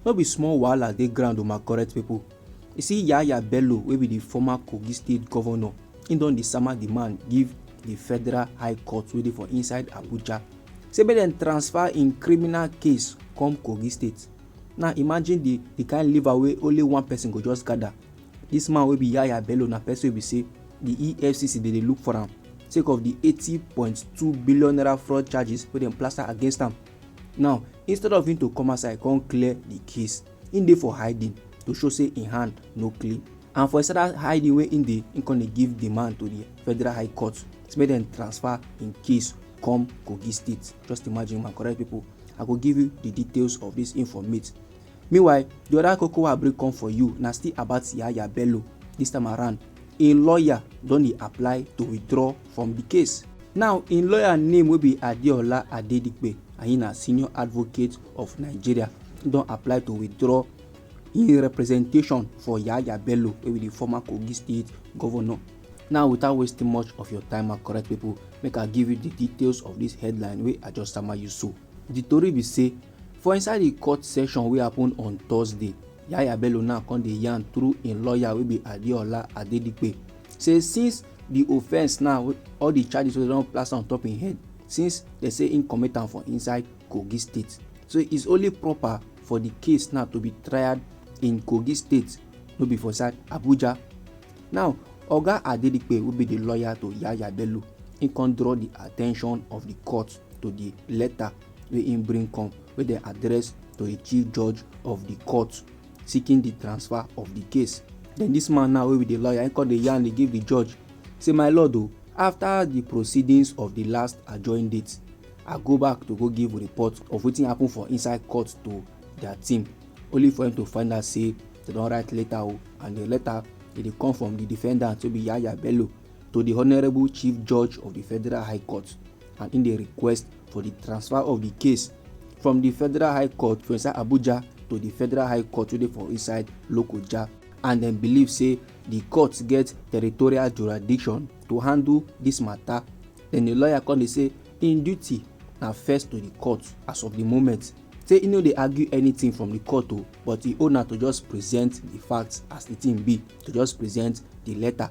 No be small wahala dey ground o my correct people. You see Yahaya Bello wey be the former Kogi state governor, he don dey sama the man give the federal high court wey dey for inside Abuja say make dem transfer im criminal case come Kogi state. Now imagine the the kind liver wey only one person go just gather. This man wey be Yahaya Bello na person wey be say the EFCC dey dey look for am sake of the eighty point two billion naira fraud charges wey dem plaster against am. now instead of him to come outside come clear the case him dey for hiding to show say him hand no clean and for inside that hiding wey him dey him come dey give demand to the federal high court say make dem transfer him case come kogi state just imagine my correct people i go give you the details of this informate Meanwhile, di oda koko wey I bring come for you na still about Yahaya Bello. Dis time around, im lawyer don dey apply to withdraw from di case. Now, im lawyer name wey be Adeola Adedipe and im na Senior Advocate of Nigeria don apply to withdraw im representation for Yahaya Bello wey be di former Kogi State Governor. Now, without wasting much of your time my correct pipo, make I give you di details of dis headline wey I just sama you so. Di tori be say, For inside di court session wey happun on Thursday, Yahaya Bello now come dey yarn through im lawyer wey be Adeola Adedipe say since di offence now all di charges wey dem don plaster on top im head since dem say im commit am for inside Kogi state so it's only proper for di case now to be tried in Kogi state no be for inside Abuja. Now oga Adedipe wey be di lawyer to Yahaya Bello im come draw di attention of di court to di letter wey im bring come wey dem address to a chief judge of di court seeking di transfer of di case then dis man now wey be di lawyer im come dey yarn dey give di judge say my lord o after di proceedings of di last adjourned date i go back to go give report of wetin happen for inside court to dia team only for im to find out say dem don write letter o and di letter e dey come from di defendant wey be yahaya bello to di honourable chief judge of di federal high court and im dey request for di transfer of di case from di federal high court for inside abuja to di federal high court wey dey for inside lokoja and dem believe say di court get territorial jurisdiction to handle dis mata den di lawyer come dey say im duty na first to di court as of di moment say e no dey argue anything from di court o but e own na to just present di facts as di thing be to just present di letter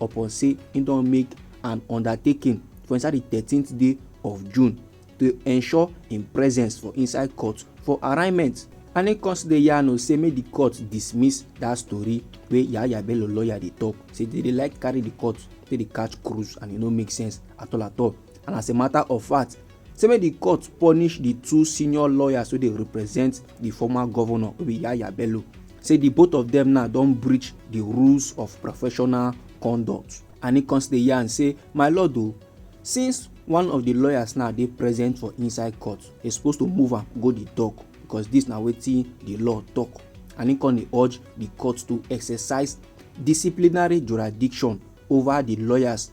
upon say im don make an undertaking for inside di thirteenth day of june to ensure im presence for inside court for arraignment and im come still dey yarn say make di court dismiss dat story wey yahaya bello lawyer dey tok say dey dey like carry di court take dey catch cruise and e no make sense at all at all and as a matter of fact say make di court punish di two senior lawyers wey dey represent di former governor wey be yaya bello say di both of dem now don breach di rules of professional conduct and e come still yarn say my lord o since one of di lawyers now dey present for inside court e suppose to move am go di dock because dis na wetin di law tok and e come dey urge di court to exercise disciplinary jurisdiction over di lawyers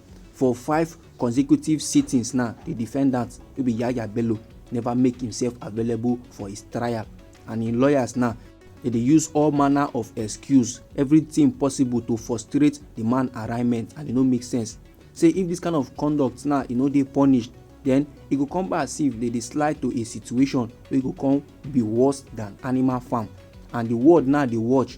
for five consecutive sittings now di defendant wey be yahaya bello never make himself available for his trial and im lawyers now dey dey use all manner of excuse everything possible to frustrate di man arraignment and e no make sense say if dis kind of conduct now e no dey punished then e go come back as if dey dey slide to a situation wey go come be worse than animal farm and di world now dey watch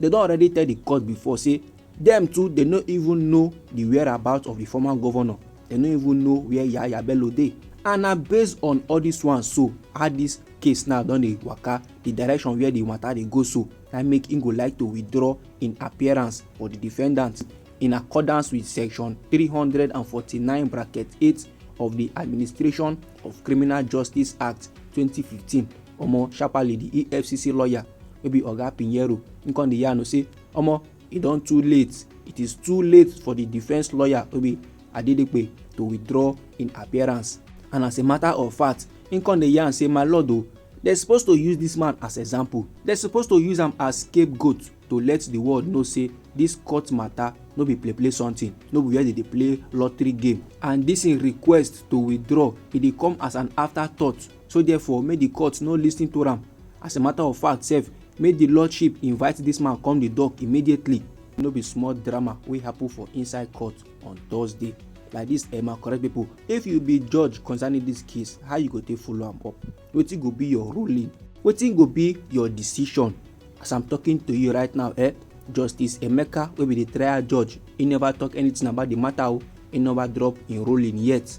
dem don already tell di court before say dem too dey no even know di whereabout of di former governor dem no even know where yahaya bello dey and na based on all dis one so how dis case now don dey waka di direction where di matter dey go so na make im go like to withdraw im appearance for di defendant in accordance with section 349 bracket 8 of di administration of criminal justice act 2015 omo sharparly di efcc lawyer wey be oga pinheiro im come dey yarn say omo e don too late it is too late for di defence lawyer wey be adedepe to withdraw im appearance and as a matter of fact im come dey yarn say my lord o dem suppose to use dis man as example dem suppose to use am as scapegoat to let di world know say dis court matter no be play play something no be where dem dey play lottery game and dis im request to withdraw e dey come as an afterthought So therefore, make the court no listen to am. As a matter of fact sef, make the lordship invite this man come the dock immediately. No be small drama wey happen for inside court on Thursday. Like this, Emma, correct people. If you be judge concerning this case, how you go take follow am up? Wetin go be your ruling? Wetin go be your decision? As I'm talking to you right now, eh? Justice Emeka wey be the trial judge, he never talk anything about the matter o. Oh. He never drop im ruling yet.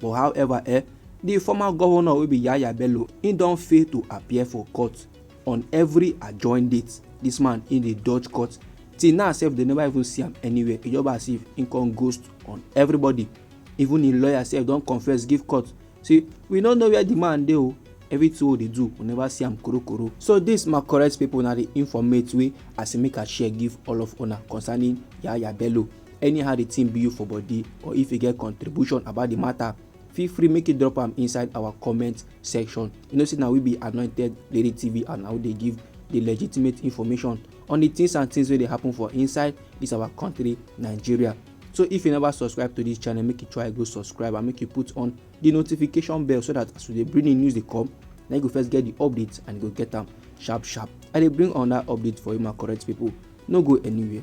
but however eh di former govnor wey be yahaya bello im don fail to appear for court on every adjoined date dis man im dey dodge court till now sef dem never even see am anywhere e just be as if im come ghost on everybody even im lawyer sef don confess give court say we no know where di man dey o everything wey dey do we never see am korokoro so dis my correct pipo na di informate wey as make i share give all of una concerning yahaya bello Anyhow the thing be you for body or if you get contribution about the matter, feel free make you drop am inside our comment section you know say na we be anointed lady tv and na we dey give the legitimate information on the things and things wey dey happen for inside this our country nigeria so if you never subscribe to this channel make you try go subscribe and make you put on the notification bell so that as we dey bring the news dey come na you go first get the update and you go get am sharp sharp i dey bring another update for you my correct people no go anywhere.